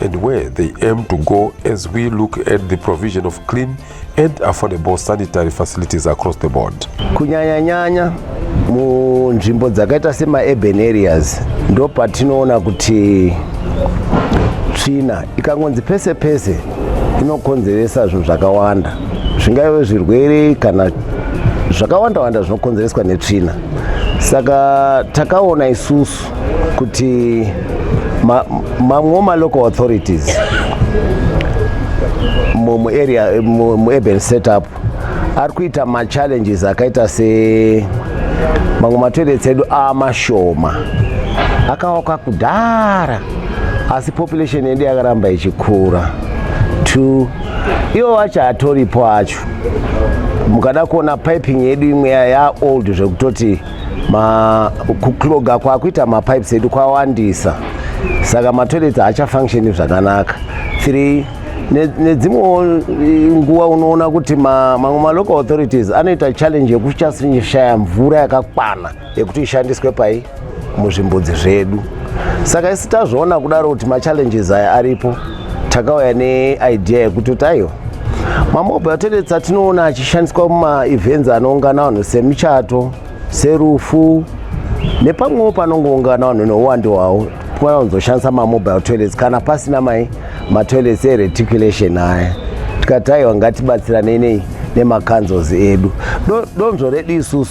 and where they aim to go as we look at the provision of clean and affordable sanitary facilities across the board. Kunyanyanyanya munzvimbo dzakaita semaurban areas ndo patinoona kuti tsvina ikangonzi pese pese inokonzeresa zvinhu zvakawanda zvingave zvirwere kana zvakawanda wanda zvinokonzereswa netsvina saka takaona isusu kuti mamwewo ma, ma local authorities muarea muurban setup ari kuita machallenges akaita se mamwe matoilets edu amashoma akawaka kudhara asi population yedu yakaramba ichikura two iwo wacho hatoripo acho mukada kuona piping yedu imwe yaold zvekutoti kukloga kwakuita mapipes edu kwawandisa saka matoilets haachafunctioni zvakanaka three nedzimwewo eh, nguva unoona kuti mamwe malocal authorities anoita challenge yekuchashaya mvura yakakwana yekuti ishandiswe pai muzvimbudzi zvedu saka isi tazviona kudaro kuti machallenges aya aripo takauya neidea yekuti tayo mamobile toilets atinoona achishandiswa mumaevents anoungana vanhu semichato serufu nepamwewo panongoungana vanhu neuwande hwavo tikwana kuzoshandisa mamobile toilets kana pasina mai matoilets ereticulation aya tikati aiwa ngatibatsiranei nei nemacanzels edu donzvo redu isusu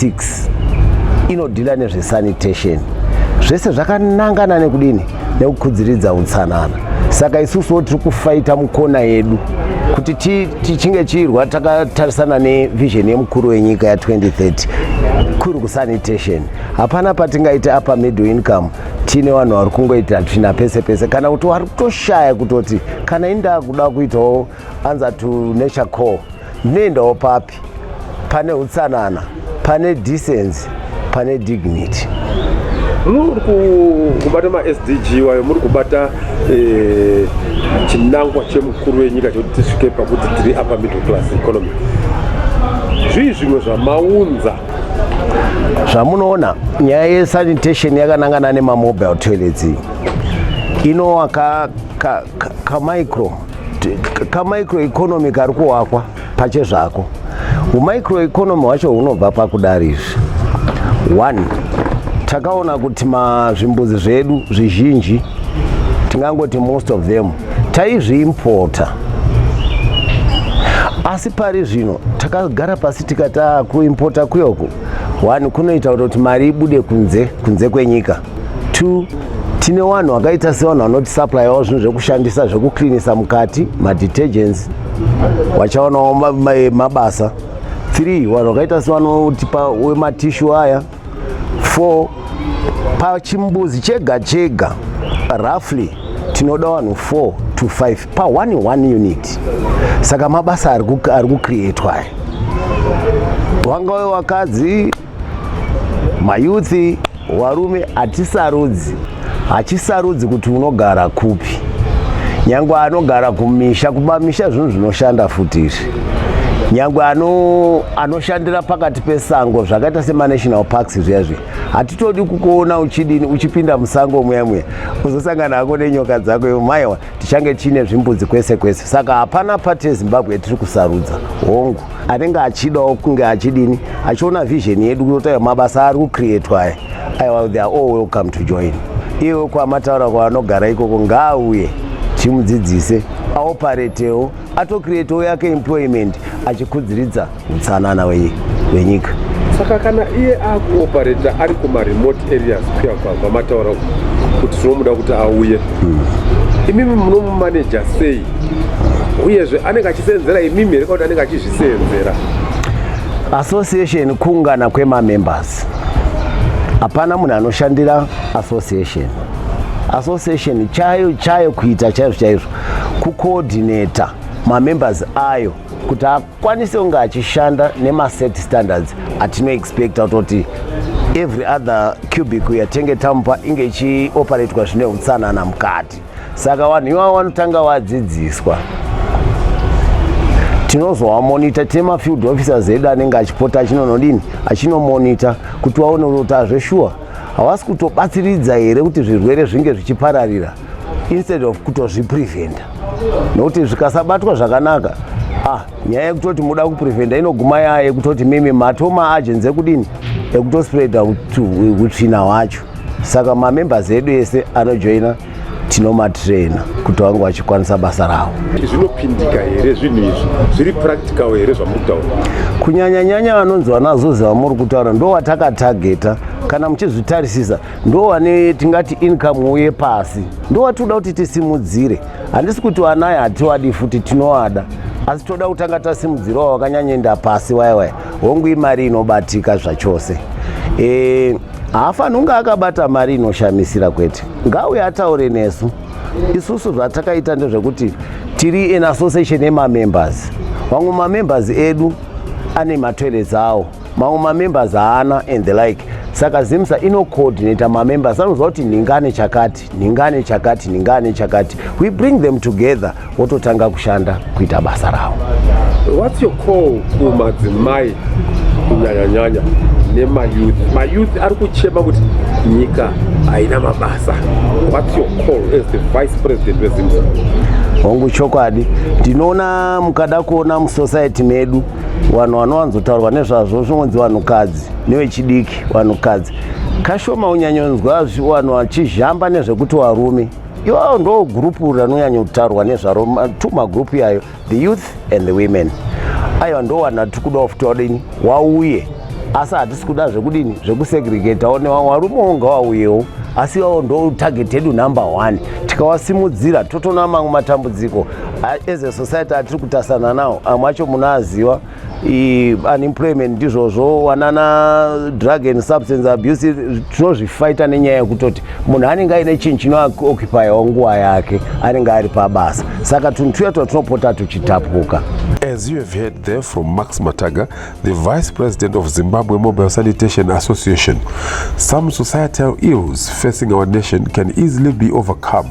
6 inodhila nezvesanitation zvese zvakanangana nekudini nekukudziridza utsanana saka isusuwo tiri kufaita mukona yedu kuti tichinge chiirwa takatarisana nevision yemukuru wenyika ya2030 kuri kusanitation hapana patingaite apa middle income tiine vanhu vari kungoita tsvina pese pese kana kuti wari kutoshaya kutoti kana indakuda kuitawo anza to nature core ndinoendawo papi pane utsanana pane decency pane dignity muri kubata masdg wayo muri kubata eh, chinangwa chemukuru wenyika chekuti tisvike pakuti tiri apa middle class economy zvii zvimwe zvamaunza zvamunoona nyaya yesanitation yakanangana nemamobile toilets iyi inowaka kamicro kamicro economy kari kuwakwa pache zvako humicro economy hwacho hunobva pakudari izvi one takaona kuti mazvimbuzi zvedu zvizhinji tingangoti most of them taizviimpota asi pari zvino takagara pasi tikati ah, kuimpota kuyoku one kunoita kuti mari ibude kunze kunze kwenyika two tine vanhu vakaita sevanhu vanoti supplyawo zvinhu zvekushandisa zvekuclinisa mukati madetergents vachaonawo mabasa three vanhu vakaita sevanotipa wematishu aya four pachimbuzi chega chega roughly tinoda vanhu four to five pa one one unit saka mabasa ari kucreatwa aya wangave wakadzi mayuthi warume hatisarudzi hachisarudzi kuti unogara kupi nyangwe anogara kumisha kumamisha zvinhu zvinoshanda futi izvi nyangwe ano anoshandira pakati pesango zvakaita semaNational Parks zviya zviya hatitodi kukuona uchidini uchipinda musango muya muya uzosangana hako nenyoka dzako ivo maiwa tichange tiine zvimbudzi kwese kwese saka hapana pati yezimbabwe yatiri kusarudza hongu anenge achidawo kunge achidini achiona vision yedu kutotaiwa mabasa ari kucreatwa aya aiwa they are all welcome to join iwe kwamataura kwavanogara ikoko ngaauye timudzidzise aoparetewo atocreatewo yake employment achikudziridza utsanana wenyika saka kana iye akuopareta ari kumaremote areas kuya kwamataura kuti zvinomuda kuti auye hmm. imimi munomumaneja sei uyezve anenge achiseenzera imimi here kauti anenge achizviseenzera association kuungana kwemamembers hapana munhu anoshandira association association chayo chayo kuita chaizvo chaizvo kucoordinata mamembers ayo kuti akwanise kunge achishanda nemaset standards atinoexpecta kutoti every other cubic yatenge tamupa inge ichioperatwa zvine utsanana mukati saka vanhu ivavo vanotanga vadzidziswa tinozovamonita tine mafield officers edu anenge achipota achinonodini achinomonita kuti vaone kuti azveshuwa havasi kutobatsiridza here kuti zvirwere zvinge zvichipararira instead of kutozvipreventa nokuti zvikasabatwa zvakanaka ah nyaya yekutoti muda kupreventa inoguma yaya yekutoti mimi matoma agenzi ekudini ekutospreada utsvina hwacho saka mamembers edu ese anojoina tinomatraina kuti vange vachikwanisa basa ravo zvinopindika here zvinhu izvi zviri practical here zvamuri kutaura kunyanyanyanya vanonzi vanazozi vamuri kutaura ndo vatakatageta kana muchizvitarisisa ndo vane tingati income uye pasi ndo vatinoda kuti tisimudzire handisi kuti vanaya hatiwadi futi tinovada asi toda kutanga tasimudzirawo vakanyanyoenda pasi waya waya hongu imari inobatika zvachose e, haafanhi kunge akabata mari inoshamisira kwete ngauye ataure nesu isusu zvatakaita ndezvekuti tiri in association yemamembers vamwe mamembers edu ane matoilets awo mamwe mamembers haana and the like saka zimsa inocoordinata mamembers anoziva kuti nhinga ane chakati nhingane chakati nhingane chakati we bring them together wototanga kushanda kuita basa ravo whats your call kumadzimai kunyanyanyanya nemayouth mayouth ari kuchema kuti nyika haina mabasa whats your call as the vice president wezimbabwe hongu chokwadi ndinoona mukada kuona musociety medu vanhu vanowanzotaurwa nezvazvo zvinonzi vanhukadzi nevechidiki vanhukadzi Kashoma unyanyonzwa zviwanhu achizhamba nezvekuti warume iwawo ndo gurupu ranonyanyotaurwa nezvaro two magurupu yayo the youth and the women aiwa ndowanhu tiri kudawo futi wadini wauye asi hatisi kuda zvekudini zvekusegregatawo newarume wonga wauyewo asi iwawo ndo target yedu number one tikawasimudzira totona mamwe matambudziko as a society atiri kutasana nawo amwe acho munaaziwa unemployment ndizvozvo wanana drug and substance abuse tinozvifaita nenyaya yekutoti munhu anenge aine chinhu chinookupyawo nguva yake anenge ari pabasa saka tunhu tuya twa tinopota tuchitapuka As you have heard there from Max Mataga, the Vice President of Zimbabwe Mobile Sanitation Association, some societal ills facing our nation can easily be overcome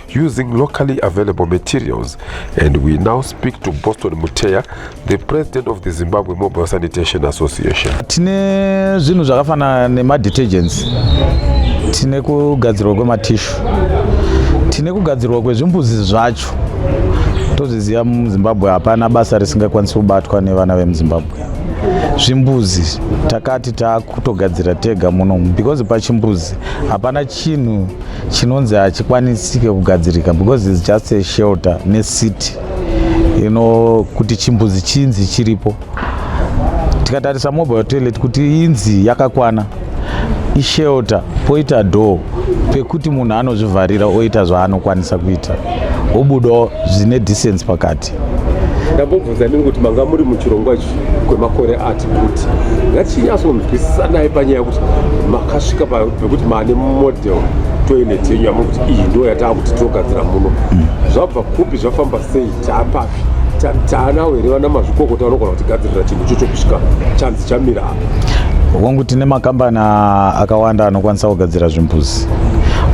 using locally available materials. And we now speak to Boston Muteya, the president of the Zimbabwe Mobile Sanitation Association. Tine zvinhu zvakafanana nemadetergents, tine kugadzirwa kwematishu, tine kugadzirwa kwezvimbuzi zvacho. Tozviziva muZimbabwe hapana basa risingakwanisi kubatwa nevana vemuZimbabwe. Zvimbuzi takati takutogadzira tega munomu because pachimbuzi hapana chinhu chinonzi hachikwanisike kugadzirika because its just a shelter necity you know kuti chimbuzi chinzi chiripo tikatarisa mobile toilet kuti inzi yakakwana ishelter poita door pekuti munhu anozvivharira oita zvaanokwanisa kuita obudawo zvine distance pakati ndambobvunza nini kuti manga muri muchirongwa ichi kwemakore ati kuti ngatinyatsonzwisisanai panyaya yekuti makasvika pekuti maane model toilet yenyu yamuri kuti iyi ndo yataa kuti tinogadzira muno hmm. zvabva kupi zvafamba sei taapapi taanawo here vana mazvikokota vanogona kutigadzirira chinhu ichocho kusvika chanzi chamira apa hongu tine makambani akawanda anokwanisa kugadzira zvimbuzi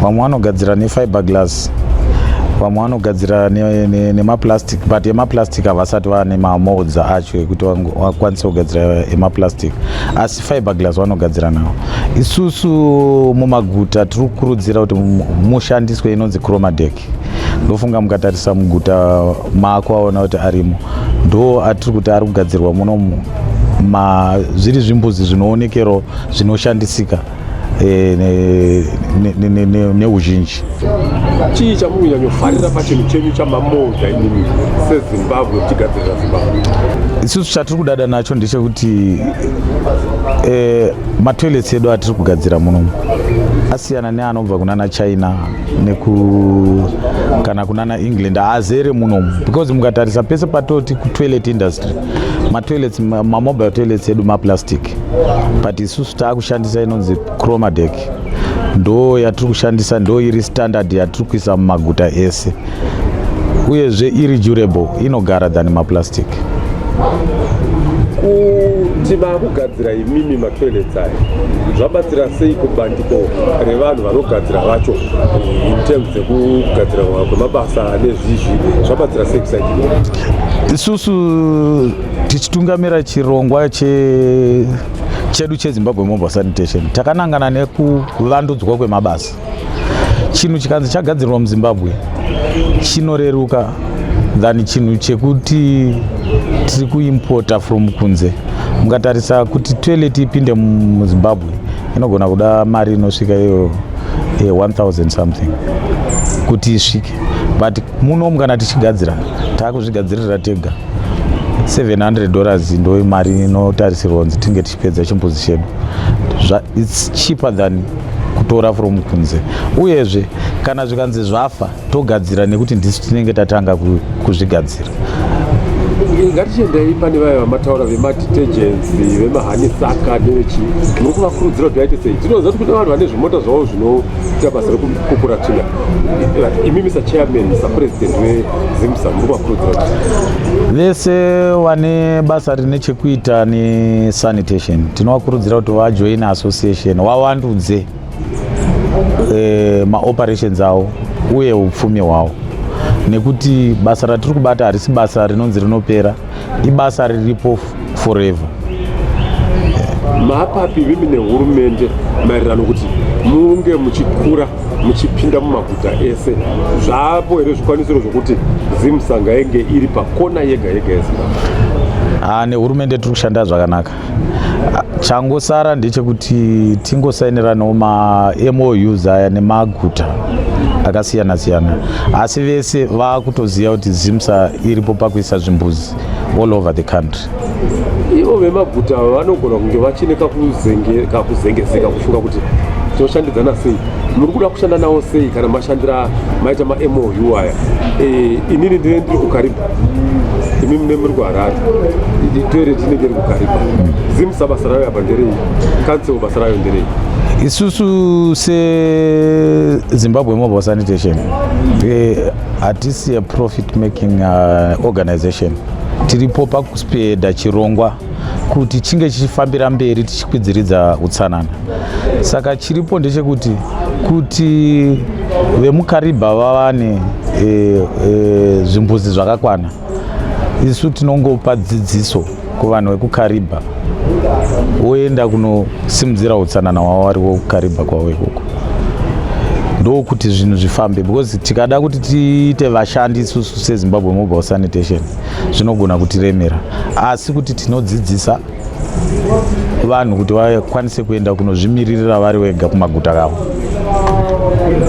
vamwe vanogadzira nefiber glass mabooks vamwe vanogadzira nemaplastic ne, ne but emaplastic havasati vane mamolds acho ekuti vakwanise kugadzira emaplastic asi fiber glass vanogadzira nawo isusu mumaguta tiri kukurudzira kuti mushandiswe inonzi chromadec ndofunga mukatarisa muguta mako aona kuti arimo ndo atiri kuti ari kugadzirwa munomu zviri zvimbuzi zvinoonekero zvinoshandisika eh, neuzhinji chii chamunyanyofarira pachinhu chenyu chamamoda inini sezimbabwe kuchigadzirira zimbabwe isusu chatiri kudada nacho ndechekuti eh, matoilets edu atiri kugadzira munomu asiyana neanobva kunana china neku kana kunana england haazere munomu because mukatarisa pese patoti kutoilet industry matoilets mamobile toilets edu maplastic but isusu taakushandisa inonzi chromadec ndo yatiri kushandisa ndo iri standard yatiri kuisa mumaguta ese uyezve iri durable inogara than maplastic kuti maakugadzira imimi matoilets aya zvabatsira sei kubandiko revanhu vanogadzira vacho eh, in terms dzekugadzira kwemabasa nezvizvi zvabatsira sei kusaii isusu tichitungamira chirongwa che chedu chezimbabwe mobile sanitation takanangana nekuvandudzwa kwemabasa chinhu chikanzi chagadzirirwa muzimbabwe chinoreruka than chinhu chekuti tiri kuimpota from kunze mukatarisa kuti toilet ipinde muzimbabwe inogona kuda mari inosvika iyo 1000 eh, something kuti isvike but munomu kana tichigadzira taakuzvigadzirira tega 700 dollars ndo imari inotarisirwa kunzi tinge tichipedza chimbuzi chedu its cheaper than kutora from kunze uyezve kana zvikanzi zvafa togadzira nekuti ndisu tinenge tatanga kuzvigadzira ngatichiendei pane vaya vamataura vemadetergents vemahani saka nevechii muri kuvakurudzira kuti vaite sei tinoziva kuti kune vanhu vane zvimota zvavo zvino tabasa rekukura tsvina imi mr chairman mr president wezimsa muri kuvakurudzira kuti vese vane basa rine chekuita nesanitation tinovakurudzira kuti vajoine association wawandudze eh, maoperations avo uye upfumi hwavo nekuti basa ratiri kubata harisi basa rinonzi rinopera ibasa riripo forever mapapi vimi nehurumende maererano kuti munge muchikura muchipinda mumaguta ese zvapo here zvikwanisiro zvokuti zimsanga yenge iri pakona yega yega yezimbabwe ah, nehurumende tiri kushanda zvakanaka changosara ndechekuti tingosainiranawo mamoyus aya nemaguta akasiyana siyana asi vese vakutoziva kuti zimsa iripo pakuisa zvimbuzi all over the country ivo vemaguta vanogona kunge vachine kakuzengezeka kufunga kuti tinoshandidzana sei muri kuda kushanda nawo sei kana mashandira maita mamoyu aya eh, inini ndine ndiri kukaribha imi mune muri kuharare itoilet inenge iri kugaripa zim sabasa rayo apa nderei council basa rayo nderei isusu sezimbabwe mobile sanitation hatisi a profit making uh, organization tiripo pakuspeda chirongwa kuti chinge chichifambira mberi tichikwidziridza utsanana saka chiripo ndechekuti kuti vemukaribha vavane e, e, zvimbuzi zvakakwana isu tinongopa dzidziso kuvanhu vekukaribha woenda kunosimudzira utsanana hwavo vari wokukaribha kwavo ikoko ndokuti zvinhu zvifambe because tikada kuti tiite vashandi isusu sezimbabwe mobile sanitation zvinogona kutiremera asi kuti tinodzidzisa vanhu kuti vakwanise kuenda kunozvimiririra vari wega kumaguta kavo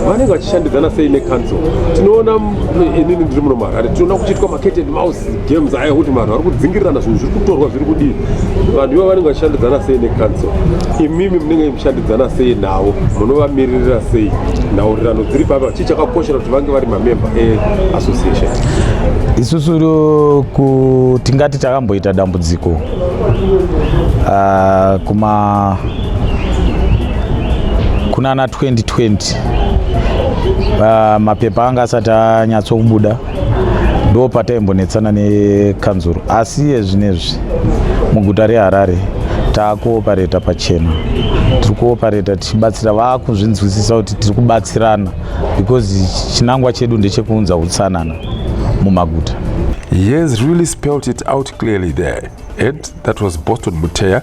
vanenge vachishandidzana sei necouncil tinoona eh, inini ndiri muno maharare tinoona kuchiitwa macated mouse games aya kuti vanhu vari kudzingirirana zvinhu zviri kutorwa zviri kudii vanhu ivo vanenge vachishandidzana sei necouncil imimi munenge mushandidzana sei navo munovamiririra sei nhaurirano dziri papi chakakoshera kuti vange vari mamemba eassociation isusu tingati takamboita dambudziko uh, kuma kunana 2020 uh, ah, mapepa anga asati anyatsokubuda ndo pataimbonetsana nekanzuru asi yezvinezvi muguta reharare taakuopareta pachena tiri kuopareta tichibatsira vakuzvinzwisisa kuti tiri kubatsirana because chinangwa chedu ndechekuunza utsanana mumaguta he has really spelt it out clearly there ed that was boston muteya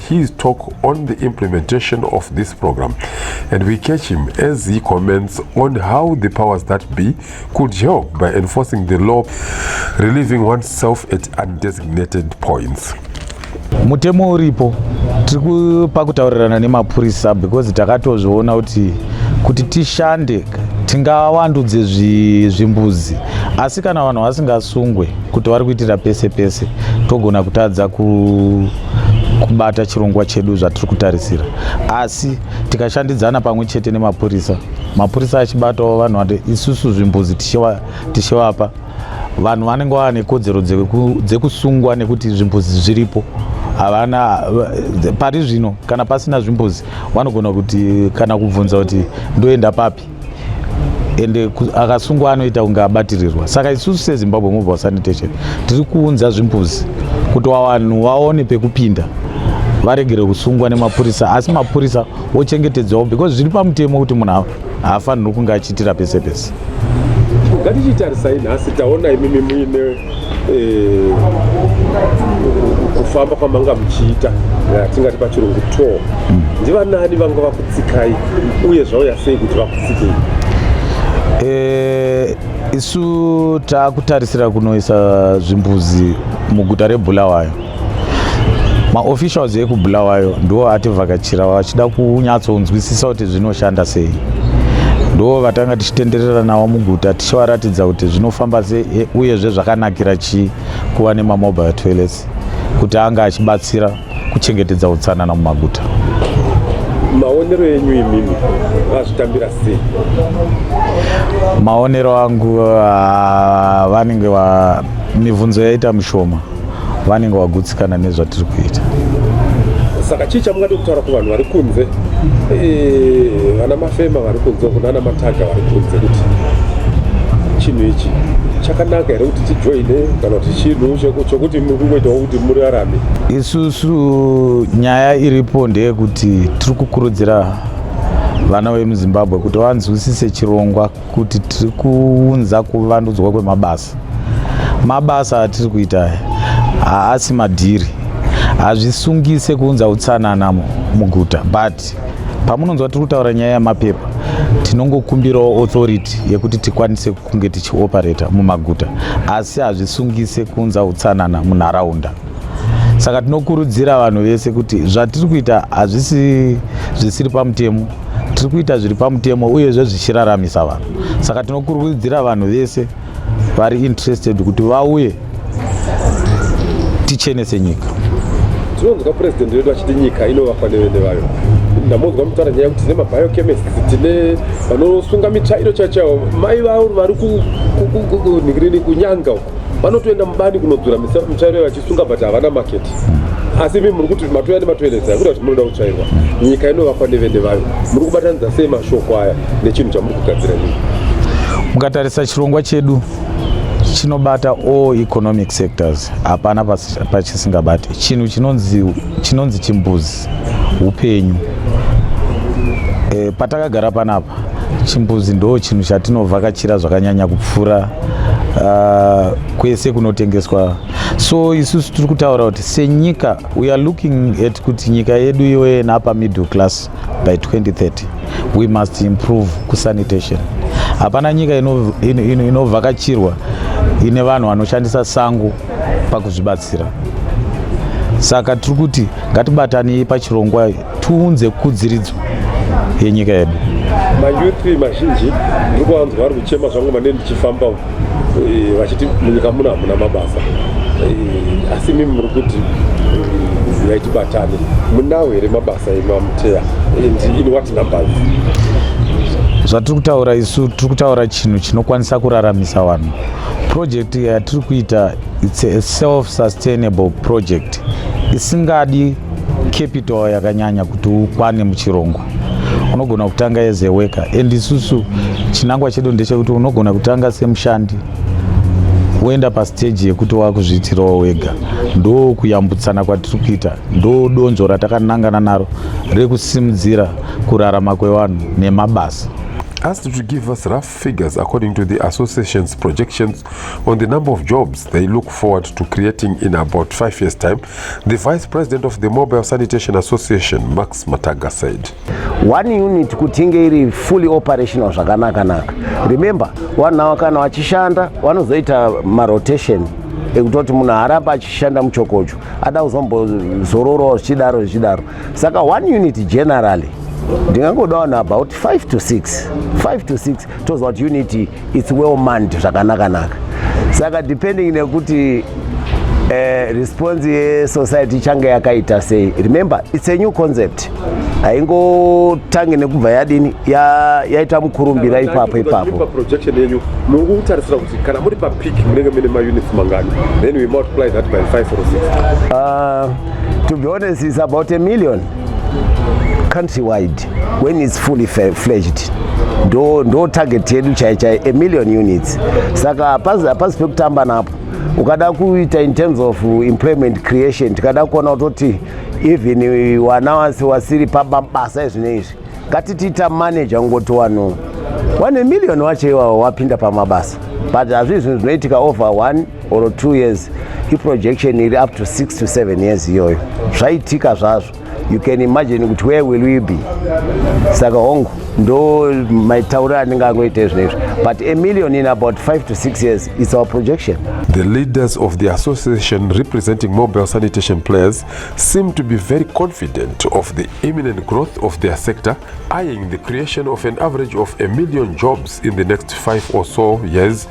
his talk on the implementation of this program and we catch him as he comments on how the powers that be could help by enforcing the law relieving oneself at undesignated points mutemo uripo tiri pakutaurirana nemapurisa because takatozviona kuti kuti tishande tingawandudze zvimbuzi asi kana vanhu vasingasungwe kuti vari kuitira pese pese togona kutadza ku kubata chirongwa chedu zvatiri kutarisira asi tikashandidzana pamwe chete nemapurisa mapurisa achibatawo vanhu vati isusu zvimbuzi tichivapa vanhu vanenge vava nekodzero dzekusungwa nekuti zvimbuzi zviripo havana pari zvino kana pasina zvimbuzi vanogona kuti kana kubvunza kuti ndoenda papi ende akasungwa anoita kunge abatirirwa saka isusu sezimbabwe mobile sanitation tiri kuunza zvimbuzi kuti wavanhu waone pekupinda varegere kusungwa nemapurisa asi mapurisa wochengetedzwawo because zviri pamutemo kuti munhu haafanirwi kunge achiitira pese pese ngatichitarisai nhasi taona imimi muine eh, kufamba kwamanga muchiita tingati pachirungu tour mm. ndivanani vanga vakutsikai uye zvauya sei kuti vakutsikei eh, isu takutarisira kunoisa zvimbuzi muguta rebulawayo maofficials ekubulawayo ndiwo ativhakachira vachida kunyatsonzwisisa kuti zvinoshanda sei ndo vatanga tichitenderera navo muguta tichivaratidza kuti zvinofamba sei e, uyezve zvakanakira chii kuva nemamobile toilets kuti anga achibatsira kuchengetedza utsanana mumaguta maonero enyu imimi vazvitambira sei maonero angu ah, vanenge mibvunzo yaita mishoma vanenge vagutsikana nezvatiri kuita saka chii chamungade kutaura kuvanhu vari kunze eh, vana mafema vari kunze uku nana mataga vari kunze kuti chinhu ichi chakanaka here kuti tijoine kana kuti chinhu chokuti muri kungoitawo kuti muri arami isusu nyaya iripo ndeyekuti tiri kukurudzira vana vemuzimbabwe kuti vanzwisise chirongwa kuti tiri kuunza kuvandudzwa kwemabasa mabasa atiri kuita haasi madhiri hazvisungise kuunza utsanana muguta but pamunonzwa tiri kutaura nyaya yemapepa tinongokumbirawo authority yekuti tikwanise kunge tichioperata mumaguta asi hazvisungise kuunza utsanana munharaunda saka tinokurudzira vanhu vese kuti zvatiri kuita hazvisi zvisiri pamutemo tiri kuita zviri pamutemo uyezve zvichiraramisa vanhu saka tinokurudzira vanhu vese vari interested kuti vauye tichenese nyika tinonzwa purezidendi vedu vachiti nyika inovakwa nevene vayo ndamonzwa mutaura nyaya yekuti tine mabiochemist tine vanosunga mitsvairo chaichaio mai vavo vari kunhikirini kunyanga vanotoenda mubani kunodzura mitsvairo vachisunga but havana market asi imi muri kuti matoya nematoeresa akuda kuti munoda kutsvairwa nyika inovakwa nevene vayo muri kubatanidza sei mashoko aya nechinhu chamuri kugadzira nyika mukatarisa chirongwa chedu chinobata all economic sectors hapana pachisingabate chinhu chinonzi chimbuzi upenyu e, patakagara panapa chimbuzi ndo chinhu chatinovhakachira zvakanyanya kupfuura uh, kwese kunotengeswa so isusu tiri kutaura kuti senyika we are looking at kuti nyika yedu iyoye napa middle class by 2030 we must improve kusanitation hapana nyika inovhakachirwa ino, ino ine vanhu vanoshandisa sango pakuzvibatsira saka tiri kuti ngatibatanei pachirongwa tiunze kudziridzo yenyika yedu mayouth mazhinji ndiri kuvanzwa vari kuchema zvangu mane ndichifamba eh, vachiti munyika muno hamuna mabasa eh, asi mimi muri kuti zivai eh, tibatane munawo here mabasa emamuteya and in what numbers zvatiri kutaura isu tiri kutaura chinhu chinokwanisa kuraramisa vanhu project yatiri kuita It's a self sustainable project isingadi capital yakanyanya kuti ukwane muchirongwa unogona kutanga as a worker and isusu chinangwa chedu ndechekuti unogona kutanga semushandi woenda pasteji yekuti wakuzviitirawo wega ndo kuyambutsana kwatiri kuita ndo donzvo ratakanangana naro rekusimudzira kurarama kwevanhu nemabasa figures according to the association's projections on the number of jobs they look forward to creating in about five years' time, the vice president of the Mobile Sanitation Association, Max Mataga, said. One unit kutinge iri fully operational zvakanakanaka. Remember, vanhu ava kana vachishanda vanozoita marotation ekutoti munhu haaramba achishanda muchokocho ada kuzombozororawo zvichidaro zvichidaro saka one unit generally ndingangoda vanhu about 5 to 6 5 to 6 toziva kuti unity its well manned zvakanakanaka saka depending nekuti uh, response yesociety ichange yakaita sei remember its a new concept haingotange nekubva yadini yaita mukurumbira ipapo ipapo projection yenyu muri kutarisira kuti kana muri papic munenge mine maunits mangani then we multiply that by 5 or 6 uh, to be honest is about a million countrywide when it's fully fledged ndo ndo target yedu chai chai a million units saka hapasi hapasi pekutamba napo ukada kuita in terms of employment creation tikada kuona kutoti even wana wasi wasiri pabasa ezvine izvi ngatitiita manager ngoti wanu wane million wacho iwawo wapinda pamabasa but hazvii zvinhu zvinoitika over one or 2 years iprojection iri up to 6 to 7 years iyoyo zvaitika zvazvo you can imagine kuti where will we be saka hongu ndo maitauriro anenge angoita izvo izvo but a million in about 5 to 6 years its our projection the leaders of the association representing mobile sanitation players seem to be very confident of the imminent growth of their sector eyeing the creation of an average of a million jobs in the next 5 or so years